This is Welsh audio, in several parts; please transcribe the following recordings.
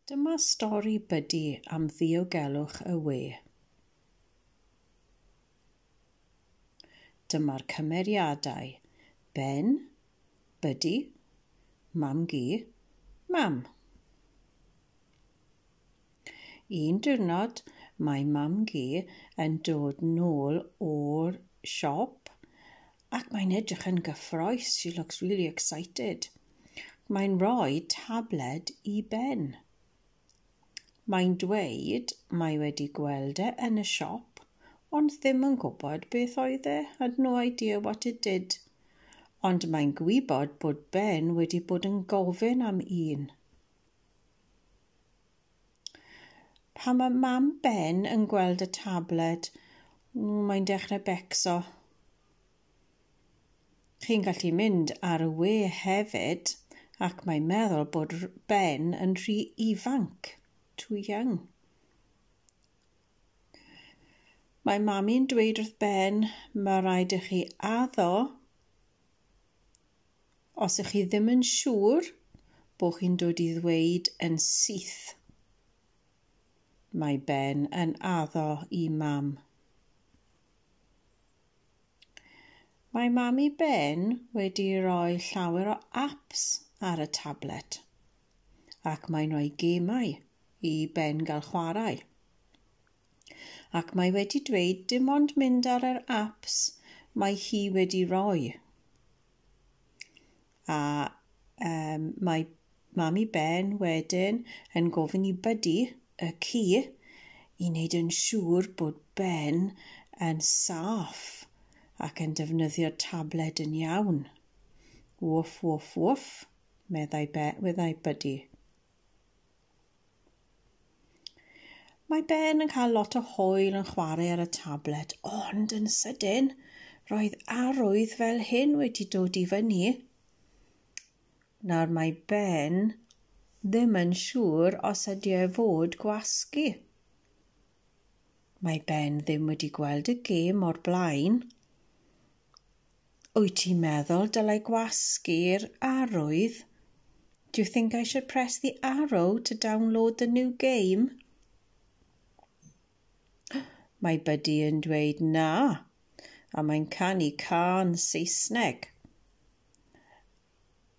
Dyma stori Buddy am ddiogelwch y we. Dyma'r cymeriadau, Ben, Buddy, Mam-gu, Mam. Un diwrnod mae Mam-gu yn dod nôl o'r siop Ac mae'n edrych yn gyffroes, she looks really excited. Mae'n rhoi tabled i Ben. Mae'n dweud mae wedi gweld e yn y siop, ond ddim yn gwybod beth oedd e, had no idea what it did. Ond mae'n gwybod bod Ben wedi bod yn gofyn am un. Pan mae mam Ben yn gweld y tabled, mae'n dechrau becso. Chi'n gallu mynd ar y we hefyd, ac mae'n meddwl bod Ben yn rhy ifanc, too young. Mae mami'n dweud wrth Ben, mae rhaid i chi addo Os ych chi ddim yn siŵr bod chi'n dod i ddweud yn syth, Mae Ben yn addo i Mam. Mae Mam i Ben wedi rhoi llawer o apps ar y tablet ac mae'n rhoi gemau i Ben gael chwarae. Ac mae wedi dweud dim ond mynd ar yr apps mae hi wedi rhoi. A um, mae Mami Ben wedyn yn gofyn i Buddy y ci i wneud yn siŵr bod Ben yn saff ac yn defnyddio tabled yn iawn. Woof, woof, woof, meddai, be, meddai Buddy. Mae Ben yn cael lot o hwyl yn chwarae ar y tablet, ond yn sydyn, roedd arwydd fel hyn wedi dod i fyny. Nawr mae Ben ddim yn siŵr os ydy e fod gwasgu. Mae Ben ddim wedi gweld y gêm o'r blaen, Wyt ti'n meddwl dylai gwasgu'r arwydd? Do you think I should press the arrow to download the new game? Mae Buddy yn dweud na, a mae'n canu cân Saesneg.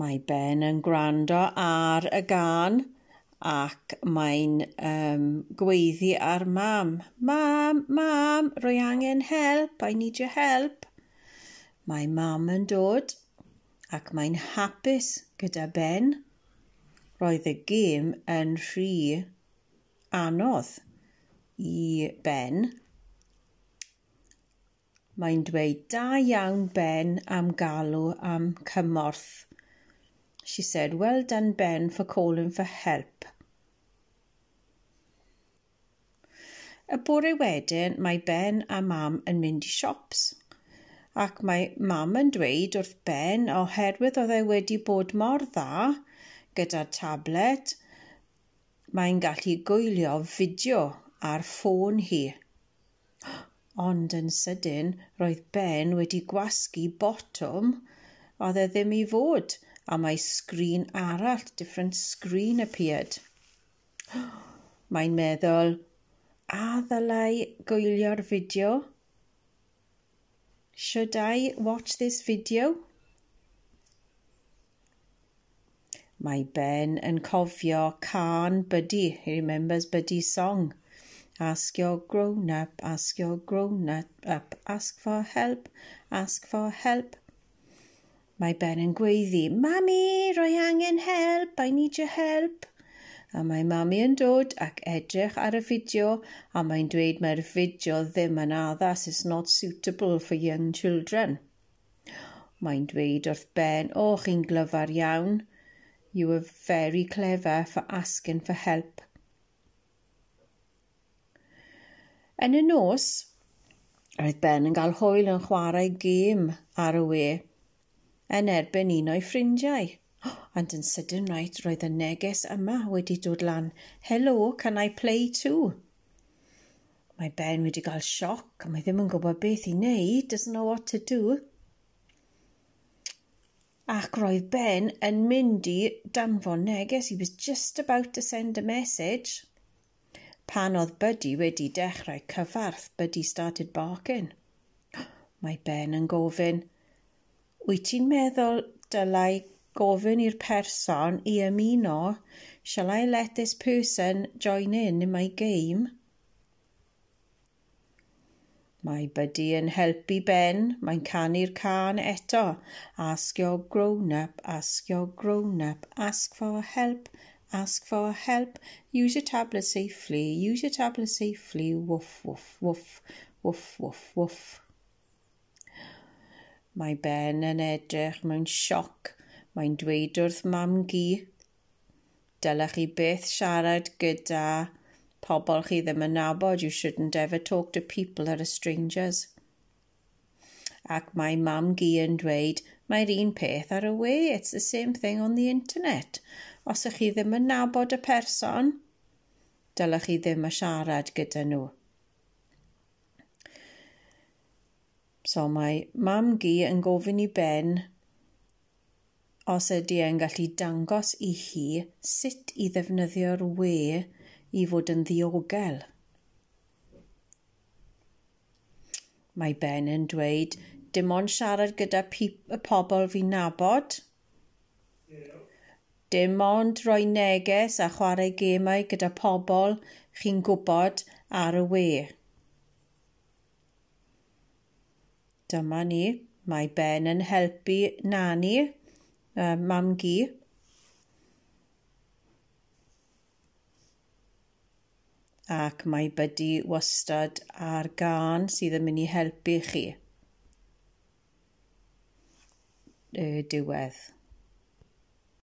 Mae Ben yn gwrando ar y gân ac mae'n um, gweiddi ar mam. Mam, mam, rwy angen help, I need your help. Mae mam yn dod ac mae'n hapus gyda Ben. Roedd y gêm yn rhy anodd i Ben. Mae'n dweud, Da iawn Ben am galw am cymorth. She said, Well done Ben for calling for help. Y bore wedyn mae Ben a Mam yn mynd i siops ac mae Mam yn dweud wrth Ben oherwydd oedd e wedi bod mor dda gyda'r tablet mae'n gallu gwylio fideo ar ffôn hi. Ond yn sydyn, roedd Ben wedi gwasgu botwm oedd e ddim i fod, a mae sgrin arall, different screen, appeared. Mae'n meddwl, a ddylai gwylio'r fideo? Should I watch this video? Mae Ben yn cofio cân Buddy, he remembers Buddy's song. Ask your grown up, ask your grown up, ask for help, ask for help. Mae Ben yn gweiddi, Mami, rwy angen help, I need your help. A mae Mami yn dod ac edrych ar y fideo a mae'n dweud mae'r fideo ddim yn addas, it's not suitable for young children. Mae'n dweud wrth Ben, O, chi'n glyfar iawn. You were very clever for asking for help. Yn y nos, roedd Ben yn cael hwyl yn chwarae gêm ar y we yn erbyn un o'i ffrindiau. Oh, and yn sydyn right, roedd y neges yma wedi dod lan. Hello, can I play too? Mae Ben wedi cael sioc a mae ddim yn gwybod beth i wneud, doesn't know what to do. Ac roedd Ben yn mynd i danfon neges, he was just about to send a message. Pan oedd Buddy wedi dechrau cyfarth, Buddy started barking. Mae Ben yn gofyn, Wyt ti'n meddwl dylai gofyn i'r person i ymuno Shall I let this person join in in my game? Mae Buddy yn helpu Ben, mae'n canu'r can eto. Ask your grown-up, ask your grown-up, ask for help, ask for help, use your tablet safely, use your tablet safely, woof, woof, woof, woof, woof, woof. Mae Ben yn edrych mewn sioc. Mae'n dweud wrth Mam-gu, Dylech chi byth siarad gyda pobl chi ddim yn nabod. You shouldn't ever talk to people that are strangers. Ac mae Mam-gu yn dweud, Mae'r un peth ar y we. It's the same thing on the internet. Os ych chi ddim yn nabod y person, dylech chi ddim a siarad gyda nhw. So mae mam gi yn gofyn i Ben os ydy e'n gallu dangos i hi sut i ddefnyddio'r we i fod yn ddiogel. Mae Ben yn dweud, dim ond siarad gyda y pobl fi'n nabod. Dim ond rhoi neges a chwarae gemau gyda pobl chi'n gwybod ar y we. Dyma ni, mae Ben yn helpu Nani, uh, mam gi. Ac mae Buddy wastad ar gan sydd yn mynd i helpu chi. Y diwedd.